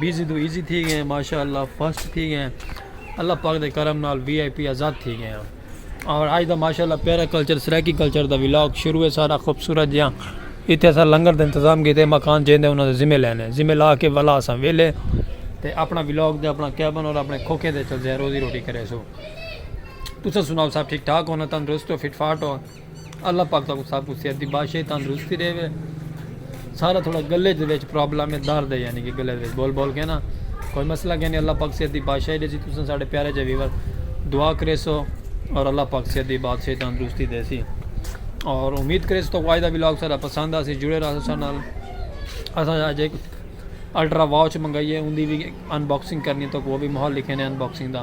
busy توں easy تھی گئے ہیں ماشاءاللہ فرسٹ تھی گئے ہیں اللہ پاک دے کرم نال وی آئی پی آزاد تھی گئے ہیں اور آج دا ماشاءاللہ پیرا کلچر سرائیکی کلچر دا ولاگ شروع ہے سارا خوبصورت جیاں اتھے سا لنگر دے انتظام کیتے مکان جین دے انہوں نے ذمہ لینے ذمہ لا کے ولا سا ویلے تے اپنا ولاگ دے اپنا کیبن اور اپنے کھوکے دے چل جائے روزی روٹی کرے سو تسا سناؤ صاحب ٹھیک ٹھاک ہونا تندرست ہو فٹ فاٹ ہو اللہ پاک تہاکوں سب کوں صحت دی بادشاہی تندرستی ݙیوے سارا تھوڑا گلے دے وچ پرابلم ہے درد ہے یعنی کہ گلے دے وچ بول بول کے نا کوئی مسئلہ کینی اللہ پاک صحت دی بادشاہی ݙیسی تساں ساڈے پیارے جے ویور دعا کریسو اور اللہ پاک صحت دی بادشاہی تندرستی دیسی اور امید کریسو تو آج دا ولاگ سارا پسند آسی جڑے رہو سارے نال اساں اج ایک الٹرا واچ منگائی ہے ان دی بھی ان باکسنگ کرنی تو وہ بھی ماحول لکھے نے ان باکسنگ دا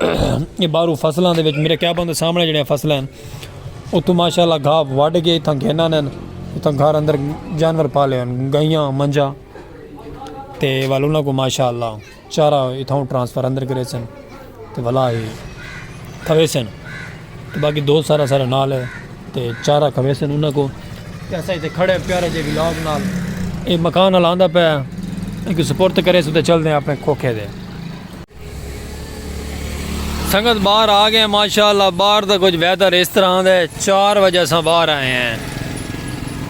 یہ بارو فصلہ دے وچ میرے کیا بندے سامنے جڑے ہیں فصلہ ہیں وہ تو ماشاءاللہ گھا وڈ گئے تھا گھنہ نے تھا گھر اندر جانور پالے ہیں گئیاں منجا تے والونا کو ماشاءاللہ چارہ اتھاں ٹرانسفر اندر کرے سن تے والا ہی کھوے سن تے باقی دو سارا سارا نال ہے تے چارہ کھوے سن انہاں کو کیسا ہی تے کھڑے پیارے جے ویلاگ نال اے مکان نال آندہ پہ ایک سپورت کرے سن تے چل دیں اپنے کھوکھے دے سنگت باہر آ گئے ماشاءاللہ باہر دا کچھ ویدر اس طرح دے چار وجہ سا باہر آئے ہیں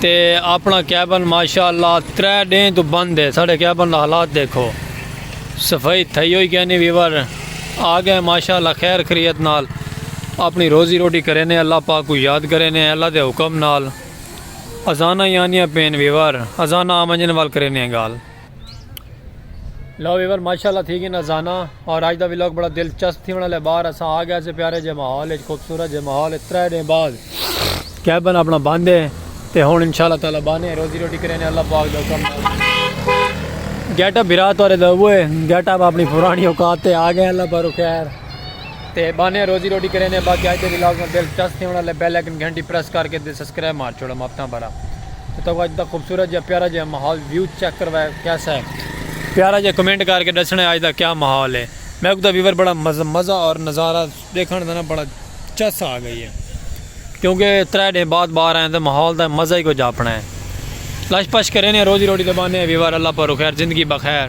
تے اپنا کیبن ماشاءاللہ ترے ڈین تو بند ہے ساڑھے کیبن دا حالات دیکھو صفائی تھئی ہوئی کہنی ویور آ گئے ماشاءاللہ خیر خریت نال اپنی روزی روٹی کرے نے اللہ پاک کو یاد کرے نے اللہ دے حکم نال ازانہ یعنی پین ویور ازانہ آمنجن وال کرے نے گال لو ویور ماشاءاللہ تھی گی نزانہ اور آج دا ویلوگ بڑا دلچسپ تھی ہونا لے باہر اساں آ گیا سے پیارے جے ماحول اچ خوبصورت جے ماحول اچ ترے دے بعد کیبن اپنا بند ہے تے ہن انشاءاللہ تعالی بانے روزی روٹی کرے نے اللہ پاک دا حکم گیٹ اپ بھرا تورے دا وہ گیٹ اپ اپنی پرانی اوقات تے آ گئے اللہ پر خیر تے بانیاں روزی روٹی کریندے باقی اج دے ولاگ میں دل چس تھیون آلے بیل آئیکن گھنٹی پریس کر کے تے سبسکرائب مار چھوڑو ماپتاں بھرا تے تاکو اج دا خوبصورت جا پیارا جا ماحول ویو چیک کروایا کیسا ہے پیارا جا کمنٹ کر کے دسنا اج دا کیا ماحول ہے میکو دا ویور بڑا مزہ مزہ اور نظارہ دیکھن دا نا بڑا چس آ گئی ہے کیونکہ ترے دن بعد باہر آئے تے ماحول دا مزہ ہی کچھ اپنا ہے لش پش کریندے روزی روٹی تے باندے ویور اللہ پر خیر زندگی بخیر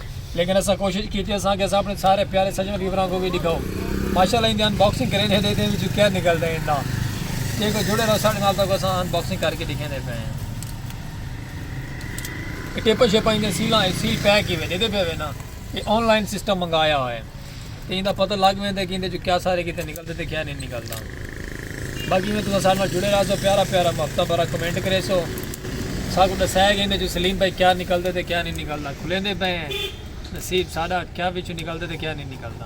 لیکن اساں کوشش کیتی اساں کہ اساں اپنے سارے پیارے سجن ویوراں کو وی ڈکھاؤ ماشاءاللہ ان دی ان باکسنگ کرین ہے دے دے وچ کیا نکلدا ہے اندا تے کو جڑے رہو ساڈے نال تک اساں ان باکسنگ کر کے دکھیندے پے ہیں ٹیپا شیپا ان دے سیلاں سیل پیک ہی وے دے دے پے وے نا یہ آن لائن سسٹم منگایا ہوئے تے ایندا پتہ لگ ویندے کہ ایندے چوں کیا سارے کیتے نکلدے تے کیا نئیں نکلدا باقی میں تساں سارے نال جڑے رہسو پیارا پیارا ہفتہ بھرا کمنٹ کریسو ساکو ڈسائے کہ ایندے چوں سلیم بھائی کیا نکلدے تے کیا نئیں نکلدا کھلیندے پئے ہیں نصیب ساڈا کیا وچوں نکلدے تے کیا نئیں نکلدا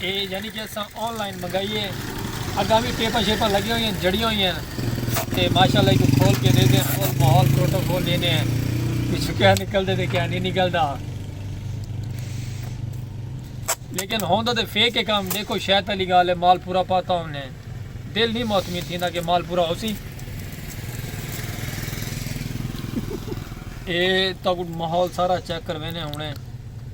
اے یعنی کہ اساں آن لائن منگائی ہے اگاں بھی ٹیپاں شیپاں لگی ہوئی ہیں جڑیاں ہوئی ہیں تے ماشاءاللہ کو کھول کے دے دیں کھول ماحول پروٹو کھول دینے ہیں پچھو کیا نکل دے دے کیا نہیں نکل دا لیکن ہوندا تے فیک کے کام دیکھو شاید علی گال ہے مال پورا پاتا ہوں نے دل نہیں موتمی تھی نا کہ مال پورا ہو سی اے تو ماحول سارا چیک کر وینے ہونے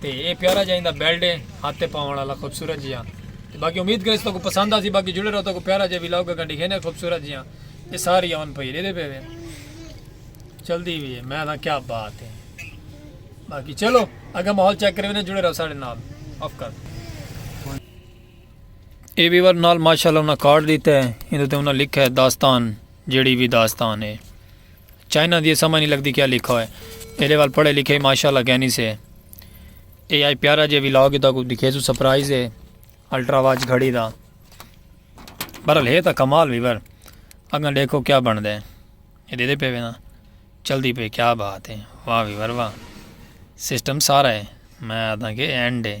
تے اے پیارا جا ایندا بیلڈ ہے ہاتھ تے پاون والا خوبصورت جیا تے باقی امید کرے تو کو پسند آسی باقی جڑے رہو تو کو پیارا جا ویلاگ اگا دکھینے خوبصورت جیا اے ساری آن پئی دے دے پے وے چلدی وی ہے میں دا کیا بات ہے باقی چلو اگا ماحول چیک کرے نے جڑے رہو سارے نال آف کر اے ویور نال ماشاءاللہ انہاں کارڈ دیتا ہے اندے تے انہاں لکھا ہے داستان جڑی بھی داستان ہے چائنا دی سمجھ نہیں لگدی کیا لکھا ہوئے ایلے وال پڑھے لکھے ہی ماشاءاللہ کینی سے اے آئی پیارا جے وی لاگ دا کو دکھے سو سپرائز ہے الٹرا واچ گھڑی دا برحال ہے تا کمال ویور اگن دیکھو کیا بن دے یہ دے دے پہ وینا چل دی پہ کیا بات ہے واہ ویور واہ سسٹم سارا ہے میں آدھا کہ اینڈ ہے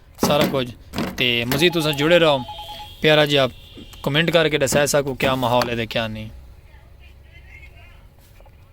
سارا کچھ تے مزید تساں جڑے رہو پیارا جی آپ کمنٹ کر کے ڈسائے ساکو کیا ماحول ہے تے کیا نہیں